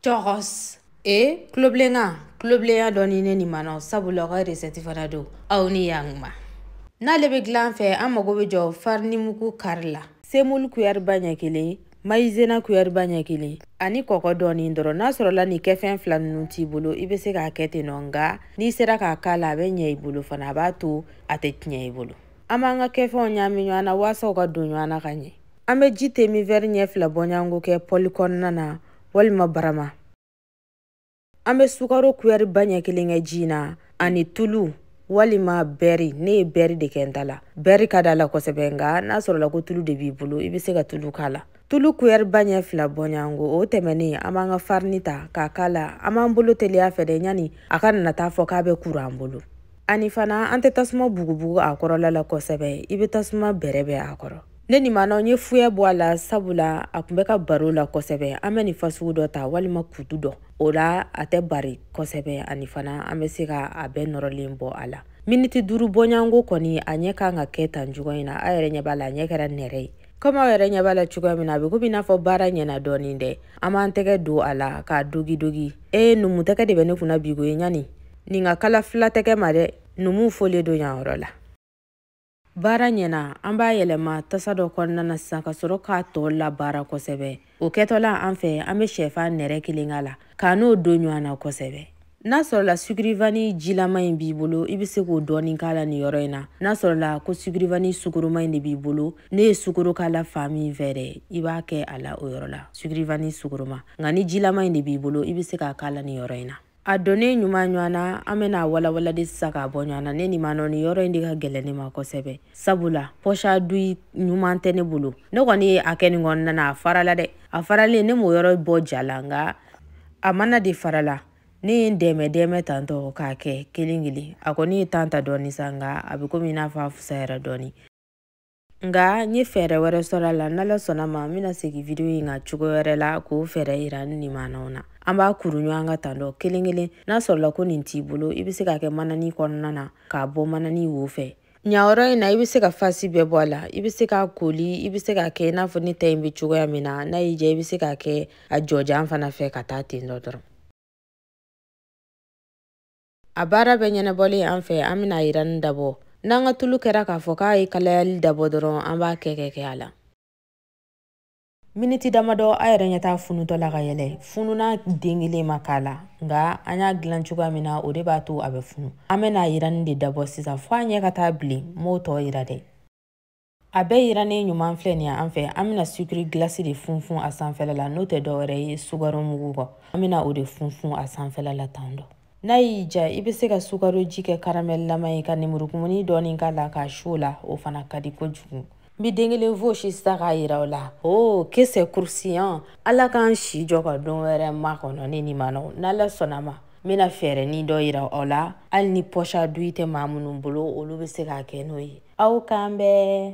Churros. E tuloblenkan tuloblenya dɔɔnin ne nimanaw sabula aw ka resɛti fana don aw ni yankuma n'ale bɛ dilan fɛ an mago bɛ jɔ farinimugu kari la semulu kuyɛriba ɲɛ kelen mayizena kuyɛriba ɲɛ kelen ani kɔkɔ dɔɔnin dɔrɔn n'a sɔrɔla nin kɛfɛn fila ninnu t'i bolo i bɛ se k'a kɛ ten nɔ nka n'i sera k'a k'a la a bɛ ɲɛ i bolo fana a b'a to a tɛ tiɲɛ i bolo an b'an ka kɛfɛnw ɲaami ɲɔgɔn na walasa u ka don ɲɔgɔn na ka ɲɛ an bɛ ji te min wɛri ɲɛ fila bɔɲɔgɔnko kɛ pɔli kɔnɔna na walima barama an bɛ sukaro kuyɛri ba ɲɛ kelen kɛ ji na ani tulu walima bɛri ne ye bɛri de kɛ n ta la bɛri ka d'a la kosɛbɛ nka n'a sɔrɔla ko tulu de b'i bolo i bɛ se ka tulu k'a la tulu kuyɛri ba ɲɛ fila bɔɲɔgɔnko o tɛmɛnen an b'an ka farini ta k'a k'a la an b'an bolo teliya fɛ dɛ yani a kana na taa fɔ k'a bɛ kuru an bolo ani fana an tɛ tasuma bugubugu a kɔrɔla la kosɛbɛ i bɛ tasuma bɛrɛbɛn a kɔrɔ ne nimanaw n ye fuyɛ bɔ a la sabula a kun bɛ ka bari o la kosɛbɛ an bɛ nin fasugu dɔ ta walima kutu dɔ o la a tɛ bari kosɛbɛ ani fana an bɛ se ka a bɛɛ nɔrɔlen bɔ a la miniti duuru bɔɲɔgɔnko kɔni a ɲɛ kan ka kɛ tan cogo in na aw yɛrɛ ɲɛ b'a la a ɲɛ kɛra nɛrɛ ye komi aw yɛrɛ ɲɛ b'a la cogoya min na a bɛ komi i n'a fɔ baara ɲɛna dɔɔnin dɛ an b'an tɛgɛ don a la k'a dogidogi ee numu tɛgɛ de bɛ ne kunna bi ko ye yani nin ka kalan fula tɛgɛ ma dɛ numuw folen don yan yɔrɔ la baara ɲɛna an b'a yɛlɛma tasa dɔ kɔnɔna na sisan ka sɔrɔ k'a tɔ labaara kosɛbɛ o kɛtɔla an fɛ an bɛ sɛfan nɛrɛ kelen k'a la k'a n'o don ɲɔgɔn na kosɛbɛ n'a sɔrɔla sugurivani jilama in b'i bolo i bɛ se k'o dɔɔni k'a la nin yɔrɔ in na n'a sɔrɔla ko sugurivani sukoroma in de b'i bolo ne ye sukoro k'a la fan min fɛ dɛ i b'a kɛ a la o yɔrɔ la sugurivani sukoroma nka ni jilama in de b'i bolo i bɛ se k'a k'a la nin yɔrɔ in na a donnen ɲuman ɲɔgɔn na an bɛna walawalali sisan k'a bɔ ɲɔgɔn na ne nimanaw nin yɔrɔ in de ka gɛlɛn ne ma kosɛbɛ sabula poche à douille ɲuman tɛ ne bolo ne kɔni ye a kɛ nin kɔnɔna na a farala dɛ a faralen ne m'o yɔrɔ bɔ ja la nka a mana de farala ne ye n dɛmɛ dɛmɛ tan dɔ k'a kɛ kelen kelen a kɔni ye tan ta dɔɔni sa nka a bɛ komi i n'a fɔ a fusayara dɔɔni nka n ye fɛɛrɛ wɛrɛ sɔrɔ a la n'ala sɔnna ma n bɛna segin video in kan cogo wɛrɛ la k'o fɛɛrɛ yira n nimanaw na an b'a kuru ɲɔgɔn kan tan dɔ kelen kelen n'a sɔrɔla ko nin t'i bolo i bɛ se k'a kɛ manani kɔnɔna na k'a bɔ manani wo fɛ yan yɔrɔ in na i bɛ se ka fasi bɛɛ bɔ a la i bɛ se k'a koli i bɛ se k'a kɛ i n'a fɔ ne ta in bɛ cogoya min na n'a y'i diya i bɛ se k'a kɛ a jɔjan fana fɛ ka taa ten dɔ dɔrɔn a baara bɛɛ ɲɛnabɔlen an fɛ an bɛna a yiranni dabɔ n'an ka tulu kɛra k'a fɔ k'a ye kalayali dabɔ dɔrɔn an b'a kɛ kɛ kɛ a la miniti damadɔ aw yɛrɛ ɲɛ t'a funutɔ la ka yɛlɛn fununan den kelen ma k'a la nka an y'a dilan cogoya min na o de b'a to a bɛ funu an bɛna a yiranni de dabɔ sisan fo a ɲɛ ka taa bilen n b'o tɔ yira dɛ a bɛɛ yirannen ɲuman filɛ nin ye an fɛ an bɛna sucre glace de funfun a sanfɛla la n'o tɛ dɔwɛrɛ ye sukaro mugu kɔ an bɛna o de funfun a sanfɛla la tan dɔ n'a y'i diya i bɛ se ka sukaro ji kɛ karamɛlilama ye ka nemurukumuni dɔɔni k'a la k'a su o la o fana ka di kojugu n bɛ den kelen fɔsi sisan k'a yira aw la o que c'est croustillant ala k'an si jɔ ka don wɛrɛ makɔnɔ ne ni ma nɔgɔ n'ala sɔnna ma n bɛna fɛɛrɛnin dɔ yira aw la hali ni poche à douille tɛ maa minnu bolo olu bɛ se k'a kɛ n'o ye aw k'an bɛn